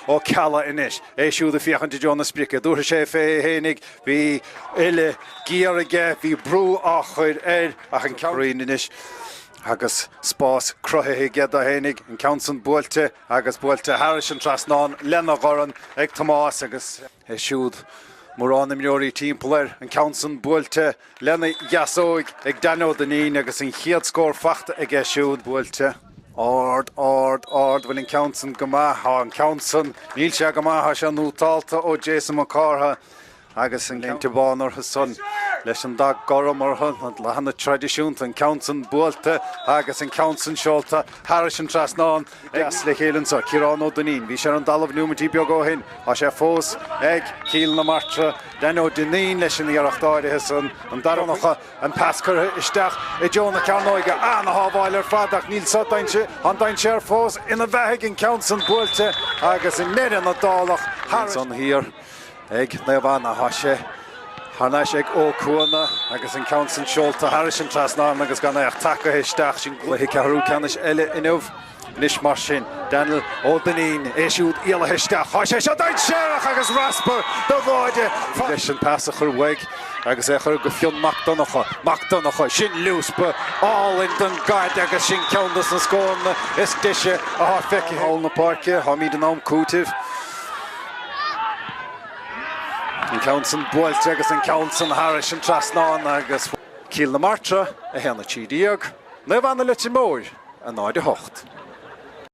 Ó Ceallaigh anois, é siúd ag féachaint i dtreo na sprice. Dúirt sé féig fhéinig, bhí uile ghiar aige, bhí brú á chur air ach anois agus spás cruthaithe aige do fhéinig, an ceann san buailte agus buailte thairis an trasnán lena dhorn ag Tomás agus. É siúd, mórán imreoirí timpeall air, an ceann san buailte lena dheasóig ag Danny Ó Duinnín agus an chéad scór faighte aige siúd buailte. Ard, ard, ard, bhfuil an ceann san go maith, tá an ceann san, níl sé go maith, tá sé nútálta ó Jason Mac Cártha agus an léinte bán orthu san leis an dath gorm orthu, na dathanna traidisiúnta, an ceann san buailte agus an ceann san seolta thairis an trasnán. Deas le chéile anseo. Ciarán Ó Duinnín, bhí sé ar an dtalamh nóimeintí beaga ó shin. Tá sé fós ag. Cill na Martra. Danny Ó Duinnín leis an iarracht áirithe san. An dara nocha. An pas curtha isteach i dtreo na cearnóige. An-shábháil ar fad ach níl, tá an dainséar fós ina bheathaigh. An ceann san buailte agus i ndeireadh na dálach thar n-ais. Ansan thiar. ag Naomh Anna. Tá sé thar n-ais ag Ó Cuana agus an ceann san seolta thairis an trasnán agus gan é ach tagaithe isteach. Sin cluiche ceathrú ceannais eile inniu. Anois mar sin, Daniel Ó Duinnín, é siúd éalaithe isteach. Tá sé seo dainséarach agus raspar do bháire. Leis an pas a chur uaidh agus é a chur go Fionn Mac Donnacha. Mac Donnacha, sin liúspa álainn don gcaid agus sin ceann dos na scóranna is deise atá feicthe thall na páirce. Táimíd in am cúitimh. An ceann san buailte agus an ceann san thairis an trasnán agus Cill na Martra 1-13, Naomh Anna Leitir Móir 0-8.